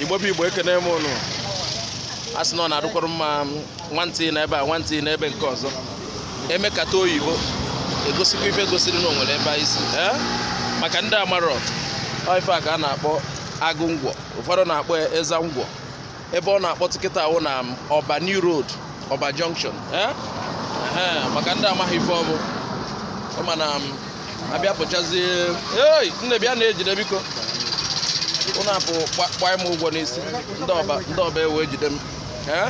igbo bụ igbo ekene m unu a sị na ọ na-adụkwara mma nwantị na ebe a nwantị na ebe nke ọzọ e mekata oyibo egosikwa ife gosiri na o nwere ebe anyị si maka ndị amarọ ife a ka a na-akpọ agụ ngwọ ụfọdụ na-akpọ eza ngwọ ebe ọ na-akpọtụ kịta a wụ na ọba new road ọba junction eh? Ehe, maka ndị amaghị ife ọ bụ ọ ma na m abịa pụchazie ei nne bịa na-ejide biko unu akwụkwa- kwaa m ụgwọ n'isi ndị ọba ndị ọba ewee jide m Eh?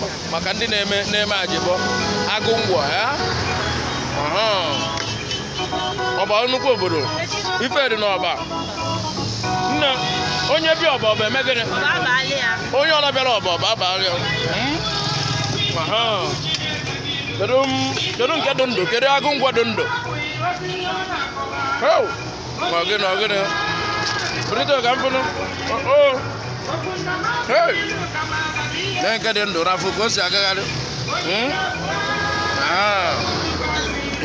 Ma- maka ndị na-eme na-eme ajebọ agụ ngwọ eh? Aha. ọba nnukwu obodo ife dị n'ọba nne onye bịa ọba ọba eme gịnị onye ọbụla bịara ọba ọba abalịa ya kedu nke dị ndụ kedu agụ ngwọ dị ndụ ma gịnị ọ gịnị bụrịta ka m fụnụ na nke dị ndụ na-afụ ka o si agagharị hmm? ah.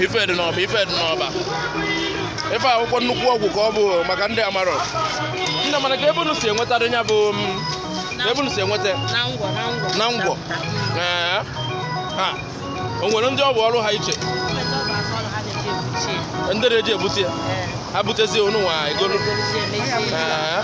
ife dị n'ọba ife dị n'ọba ife a wụkwa nnukwu ọgwụ ka ọ bụ maka ndị amarọ nne mana ka ebe unu si enwetadị ya bụ hmm, ebe unu si enweta na ngwọ eh. ah. o nwere ndị ọ bụ ọrụ ha iche ndị na-eji ebute ya eh. ha butezie unu nwa egolu eh.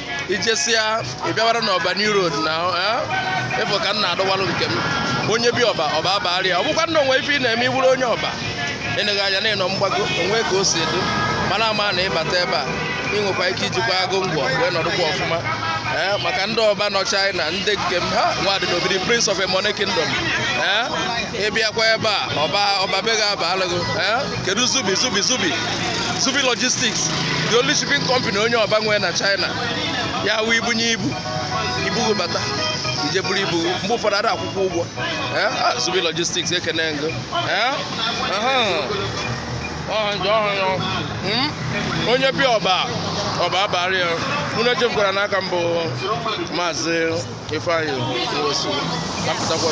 i jesịa ị bịawara n'ọba new road na ị fụ ka m na-adọwalụ nke m onye bịa ọba ọba abalịa ọ bụkwa na o nwe ife ị na-eme ị wụrụ onye ọba ịnụghị anya na ị nọ mgbago o nwe ka o si edu mana ama na ị bata ebe a ị nwekwa ike ijikwa agụ ngwọ wee nọdụkwa ọfụma ee maka ndị ọba nọ China ndị nke m ha nwadị n'obidi prince of a money kingdom ee ị bịakwa ebe a ọba ọba be ga-aba alụghị ee kedu zubi zubi zubi zubi logistics the only shipping company onye ọba nwee na china ya wụ i bunye ibu ibu gị bata i je buru ibu mgbe ụfọdụ a da akwụkwa ụgwọ Eh, ah, zubi logistics ekene m gị Eh, aha. Ọha nje ọha ya. Mm? onye bịa ọba ọba abalịa ya unu echefukwara n'aka mbụ maazị ifeanyị nwosu apụtakwa